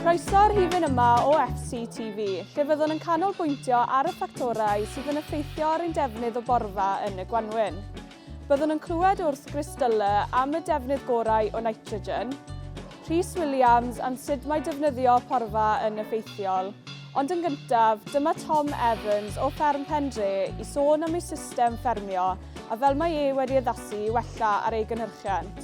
Croeso'r rhifyn yma o FCTV, lle fyddwn yn canolbwyntio ar y ffactorau sydd yn effeithio ar ein defnydd o borfa yn y gwanwyn. Byddwn yn clywed wrth Gris Dulle am y defnydd gorau o nitrogen, Rhys Williams am sut mae defnyddio porfa yn effeithiol. Ond yn gyntaf, dyma Tom Evans o Fferm Pendre i sôn am ei system ffermio a fel mae e wedi addasu i wella ar ei gynhyrchiant.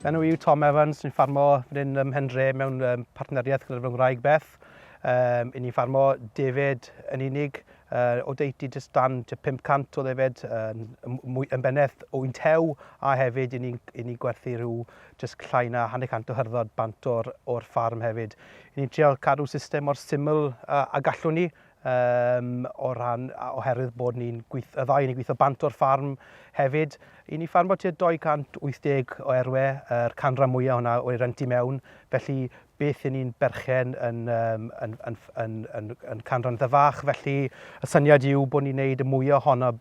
Fy enw yw Tom Evans, ni'n ffarmo fan hyn ym Mhendre mewn um, partneriaeth gyda'r fy ngwraig Beth. Um, I ni'n ffarmo defaid yn unig, Yr oddeutu jyst dan tua 500 o ddefed yn mwy yn beneth o'n tew a hefyd i ni'n i ni'n gwerthu rhyw jyst llai na hanner cant o hyrddod bant o'r o'r ffarm hefyd. I ni'n trial cadw system mor syml a, a gallwn ni um, o ran oherwydd bod ni'n gweith, y ddau ni'n gweithio bant o'r ffarm hefyd. I ni ffarm bod tua 280 o erwe, yr canran mwyaf hwnna o'i rent i mewn, felly beth y'n ni'n berchen yn, um, yn, yn, yn, yn, yn canran dda fach, felly y syniad yw bod ni'n neud y mwyaf ohono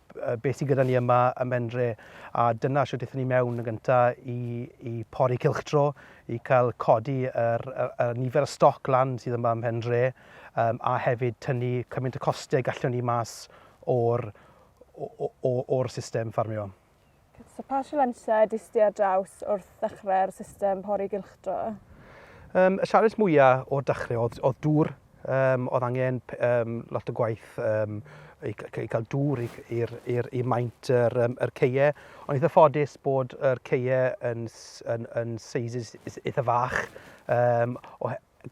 beth sy'n gyda ni yma ym Menre, a dyna sydd wnaethon ni mewn yn gyntaf i, i pori cilchdro, i cael codi yr, yr, yr nifer y stoc lan sydd yma ym Menre, um, a hefyd tynnu cymaint y costau gallwn ni mas o'r, o'r system ffarmio. So pa sialensiau di sti ar draws wrth ddechrau'r system pori gylchdro? Um, y sialens mwyaf o'r dechrau oedd, oedd dŵr. Um, oedd angen um, lot o gwaith um, i, i cael dŵr i maint yr, um, yr ceie. Ond eitha ffodus bod yr ceie yn, yn, yn seisys eitha fach um,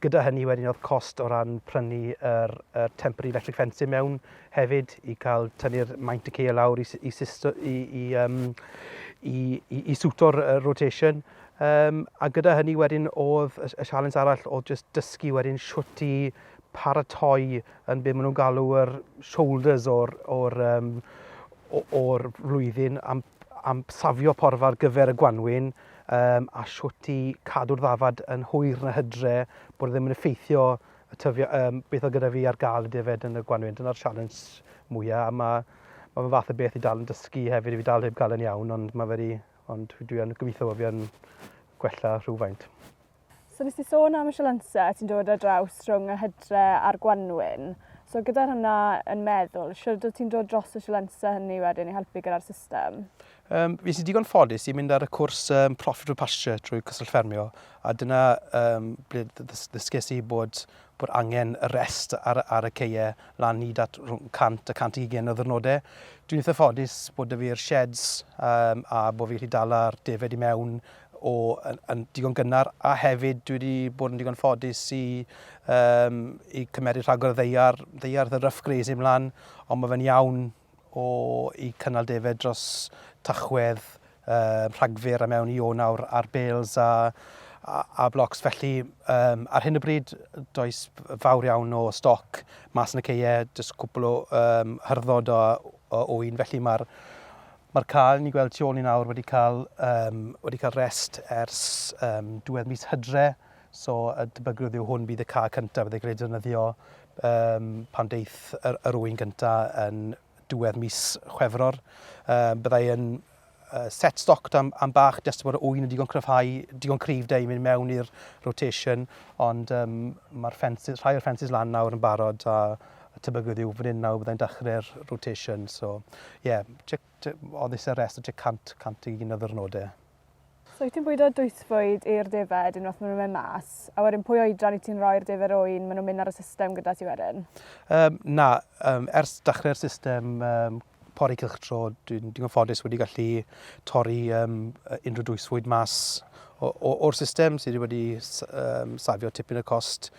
Gyda hynny wedyn oedd cost o ran prynu yr, yr temporary electric fencing mewn hefyd i cael tynnu'r maint y ceir lawr i, i, i, i, um, i, i, i swto'r rotation. Um, a gyda hynny wedyn oedd y, y sialens arall oedd just dysgu wedyn siwt i paratoi yn beth maen nhw'n galw yr shoulders o'r, or, um, or flwyddyn am, am safio porfa ar gyfer y gwanwyn um, a shwt i cadw'r ddafad yn hwyr na hydre, bod e ddim yn effeithio y tyfio, um, beth oedd gyda fi ar gael y defed yn y gwanwyn. Dyna'r sialens mwyaf, a mae ma fe fath o beth i dal yn dysgu hefyd, i fi dal heb gael yn iawn, ond mae wedi, ond dwi yn gobeithio bod fi yn gwella rhywfaint. So nes ti sôn am y sialense ti'n dod ar draws rhwng y hydre a'r gwanwyn. So gyda hwnna yn meddwl, siwrd wyt ti'n dod dros y sialense hynny wedyn i helpu gyda'r system? Um, fi sy'n digon ffodus i mynd ar y cwrs um, Profitable Pasture drwy Cyswllt Ffermio, a dyna um, ble ddysges i bod, bod angen y rest ar, ar y ceiau lan hyd at 100 a 120 o ddyrnodau. Dwi'n eitha ffodus bod y fi'r sheds um, a bod fi'n gallu dala'r defed i mewn o yn digon gynnar a hefyd dwi wedi bod yn digon ffodus i, um, i cymeryd rhagor o ddeiar, ddeiar the rough grazing mlan, ond mae fe'n iawn o i cynnal defed dros tachwedd um, rhagfyr a mewn i o nawr ar bales a, a, a blocs. Felly um, ar hyn o bryd does fawr iawn o stoc mas yn y ceie, jyst cwpl o um, hyrddod o, o ŵyn, felly mae'r Mae'r cae, ni'n gweld tu ôl ni nawr, wedi cael yym wedi cael rest ers yym diwedd mis Hydre, so y tebygrwydd yw hwn fydd y cae cyntaf fydde gael ei defnyddio yym pan deith yr, yr ŵyn gynta yn diwedd mis Chwefror. Yy byddai yn uh, set stoc am, am bach, jyst bod y ŵyn yn digon cryfhau, digon cryf da i mynd mewn i'r rotation, ond um, mae'r ffensus, rhai o'r ffensus lan nawr yn barod a y tebygrwydd yw fan hyn nawr byddai'n dechrau'r rotation. So, ie, yeah, oedd eisiau rest o tua 100, 101 o ddyrnodau. So, wyt ti'n bwydo dwythfwyd i'r defaid unwaith maen nhw'n mynd mas, a wedyn pwy oedran i ti'n rhoi'r defaid oen maen nhw'n mynd ar y system gyda ti wedyn? Um, na, um, ers dechrau'r system um, pori cylchdro, dwi'n digon ffodus wedi gallu torri um, unrhyw dwysfwyd mas o'r system sydd wedi um, safio tipyn y cost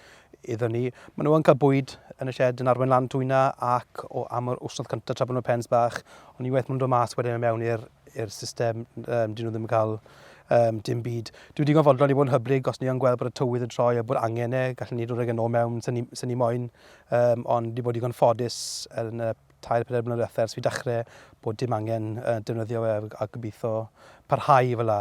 iddyn ni. Maen nhw'n cael bwyd yn y shed yn arwen lan twyna ac o am yr wsnodd cyntaf tra bod nhw'n pens bach, ond unwaith maen nhw'n dod mas wedyn mewn i'r system, um, dyn nhw ddim yn cael um, dim byd. Dwi'n digon fodlon i fod yn hyblyg os ni o'n gweld bod y tywydd yn troi a bod angen e, gallwn ni ddod ag yn e ôl mewn sy'n ni, ni moyn, um, ond di bod digon ffodus yn y tair, pedair mlynedd diwetha' ers fi dachre bod dim angen yy defnyddio fe a gobitho parhau fela.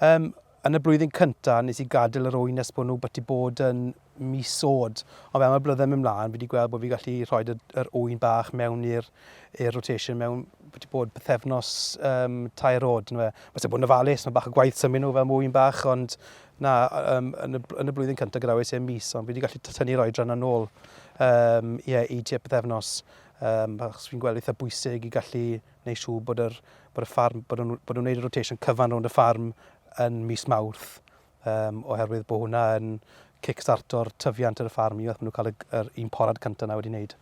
Yym yn y blwyddyn cynta' nes i gadel yr ŵyn nes bod nhw byti bod yn mis o'd. Ond fel ma'r blydde'n myn' mlan fi 'di gweld bo' fi gallu rhoid y yr ŵyn bach mewn i'r i'r rotation mewn byti bod pythefnos yym tair o'd yndyfe. Ma' isie bod yn ofalus ma' bach o gwaith symud nhw fel ŵyn bach ond na yym yn y bl- yn y blwyddyn cynta' gadawes i'r mis ond fi 'di gallu t- tynnu'r oedran yna nôl yym ie i tua pythefnos. Um, achos fi'n gweld eitha bwysig i gallu gwneud siw bod yr, bod y ffarm, bod nhw'n bod nhw wneud y rotation cyfan rownd y ffarm yn mis mawrth, um, oherwydd bod hwnna yn kickstarto'r tyfiant ar y ffarm i, maen nhw'n cael yr un porad cyntaf na wedi wneud.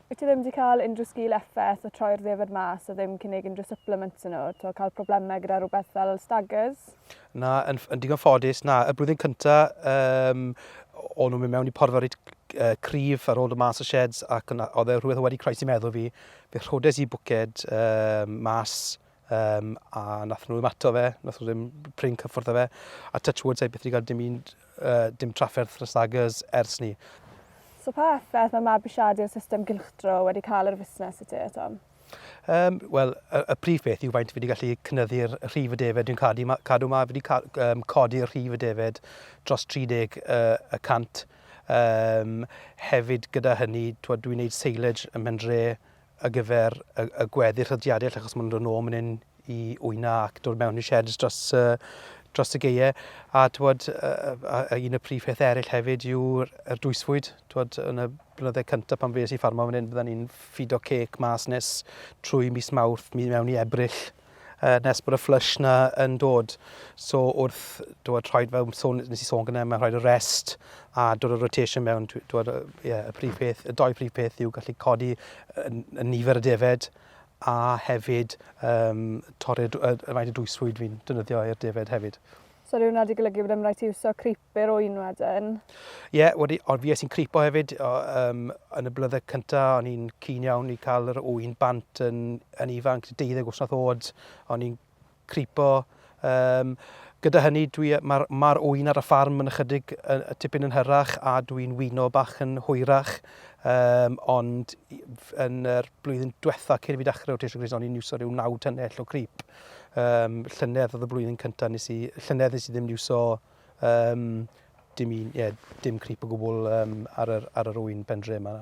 Wyt ti ddim wedi cael unrhyw sgil effaith o troi'r ddefaid mas a ddim cynnig unrhyw supplements yn nhw, to cael problemau gyda rhywbeth fel staggers? Na, yn, yn digon ffodus, na, y blwyddyn cyntaf, um, o'n nhw'n mynd mewn i porfa reit uh, cryf ar ôl y mas y sheds ac yna, oedd e rhywbeth wedi croesi meddwl fi. Fe rhodes i bwced um, mas um, a nath nhw ddim ato fe, nath nhw ddim prin cyffwrdd fe. A touch wood, sa'i beth wedi cael dim, un, uh, dim trafferth na stagers ers ni. So pa effaith mae mabwysiadu'r system gylchdro wedi cael ar y fusnes i ti, Tom? Um, Wel, y, y prif beth yw faint fi wedi gallu cynyddu'r rhif y defed. Dwi'n cadw, ma, cadw ma, fi wedi ca, um, codi'r rhif y defed dros 30 uh, y cant. Um, hefyd gyda hynny, dwi'n gwneud seilage ym Mhendre ar gyfer y, y gweddill y diadell achos maen nhw'n dod nôl mynd i wyna ac dod mewn i sheds dros, uh, dros y geie. A, twod, uh, a, a un y prif peth eraill hefyd yw'r er dwysfwyd. Twod, yn y blynydde cyntaf pan fes i ffarmo fan hyn, bydden ni'n ffido cec mas nes trwy mis mawrth, mi mewn i ebryll, uh, nes bod y flush na yn dod. So wrth dod rhaid fel sôn, nes i sôn gyda, mae rhaid y rest a dod y rotation mewn, dod, yeah, y prif peth, y doi prif peth yw gallu codi y, y nifer y defed a hefyd um, torri'r uh, faint o dwysfwyd fi'n dynyddio i'r defaid hefyd. So rhyw nad i golygu bod ymwneud i wso creeper o un wedyn? Ie, yeah, wedi, ond fi sy'n creepo hefyd, o, um, yn y blyddau cyntaf, o'n i'n cyn iawn i cael yr wy'n bant yn, yn ifanc, deuddeg wrth wrth oed, o'n i'n cripo. Um, gyda hynny, dwi, mae'r, mae ŵyn ar y ffarm yn ychydig uh, tipyn yn hyrach a dwi'n wyno bach yn hwyrach. Um, ond yn yr er blwyddyn diwetha cyn i fi dechrau o Tisio Gris, o'n i'n iwso rhyw naw tynnell o crip. Um, llynedd oedd y blwyddyn cyntaf nes i, llynedd nes i ddim iwso um, dim, un, yeah, dim crip o gwbl um, ar, yr, ar yr wy'n pendre yma.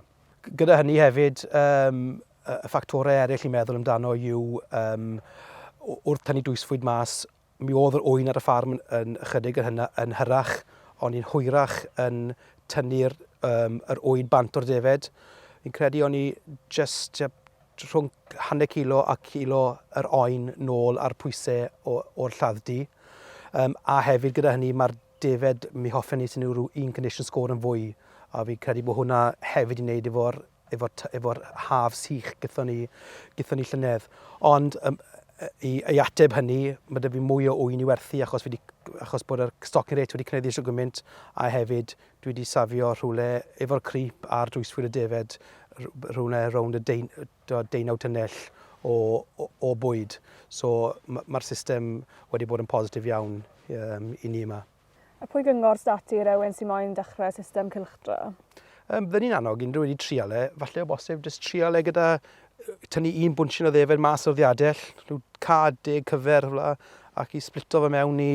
Gyda hynny hefyd, um, Y ffactorau eraill i meddwl amdano yw um, wrth tynnu dwysfwyd mas, mi oedd yr ŵyn ar y ffarm yn ychydig yn, hynna, yn hyrach, ond ni'n hwyrach yn tynnu'r um, yr ŵyn bant o'r defed. Fi'n credu o'n i just rhwng hanner kilo a kilo yr oen nôl ar pwysau o'r lladd-du. Um, a hefyd gyda hynny mae'r defed mi hoffen ni sy'n rhyw un condition score yn fwy a fi'n credu bod hwnna hefyd yn neud efo'r efo'r efo haf sych gython ni, gython ni llynedd. Ond um, i, i ateb hynny, mae dyfu mwy o wy'n i werthu achos, wedi, achos bod yr stocking rate wedi cynyddu eisiau gymaint a hefyd dwi wedi safio rhywle efo'r crip a'r dwyswyr y defed rhywle rownd y deun, deunaw tynnell o, o, o bwyd. So mae'r system wedi bod yn positif iawn um, i ni yma. A pwy gyngor sy 'da ti i rywun sy moyn dechrau system cylchdro? Um, Fydden ni'n annog unrhyw wedi trial e, falle o bosib, jyst trial e gyda tynnu un bwnsyn o ddefed mas o'r ddiadell, rhyw cad deg cyfer fla, ac i splito fe mewn i,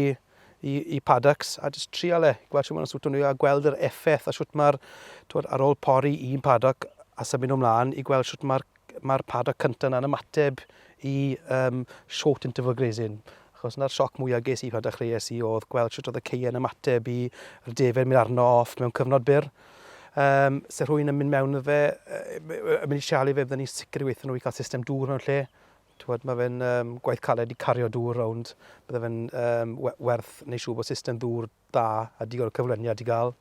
i, i paddocks, a jyst trial e, gweld sy'n mynd o'n swt o'n a gweld yr effaith a sut mae'r, ar ôl pori un paddock a symud nhw mlaen i gweld sut mae'r Mae'r paddock cyntaf yna'n ymateb i um, short interval grazing. Achos yna'r sioc mwyaf ges i pan dechreuais i oedd gweld sut oedd y ceien ymateb i'r defaid mynd arno off mewn cyfnod byr. Um, se rhwy'n yn mynd mewn fe, yn mynd i sialu fe, byddwn ni'n sicr i weithio nhw i cael system dŵr mewn lle. Tywed, mae fe'n um, gwaith caled i cario dŵr rownd. Bydde fe'n um, werth neu siw bod system ddŵr da a digon o cyfraniad i gael.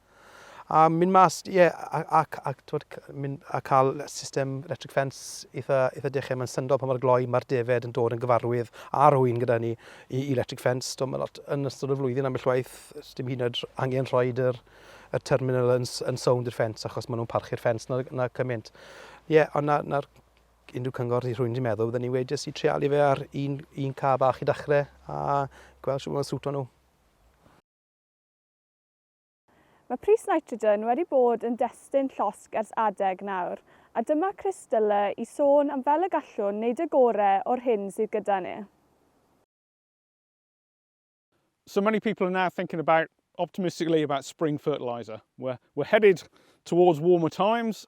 A mynd mas, ie, yeah, a, a, a, twod, mynd, a cael system electric fence eitha, eitha dechrau. Mae'n syndod pan mae'r gloi, mae'r defed yn dod yn gyfarwydd ar hwy'n gyda ni i, i electric fence. Do, mae lot yn ystod y flwyddyn am y llwaith, dim hyn oed angen rhoi yr, y terminal yn, yn sownd i'r ffens achos maen nhw'n parchu'r ffens na, na cymaint. Ie, yeah, ond na, na, unrhyw cyngor i rhywun wedi meddwl, byddwn ni wedi jyst i trialu fe ar un, un car bach i ddechrau a gweld sy'n fawr sŵto nhw. Mae pris nitrogen wedi bod yn destun llosg ers adeg nawr, a dyma Chris Dulla i sôn am fel y gallwn wneud y gore o'r hyn sydd gyda ni. So many people are now thinking about optimistically about spring fertiliser. We're, we're headed towards warmer times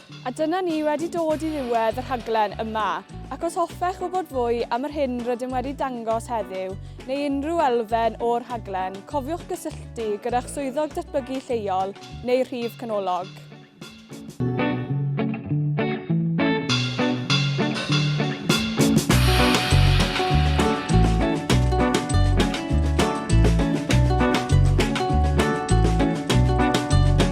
A dyna ni wedi dod i ddiwedd y rhaglen yma. Ac os hoffech wybod fwy am yr hyn rydym wedi dangos heddiw, neu unrhyw elfen o'r rhaglen, cofiwch gysylltu gyda'ch Swyddog Datblygu Lleol neu Rhif Canolog.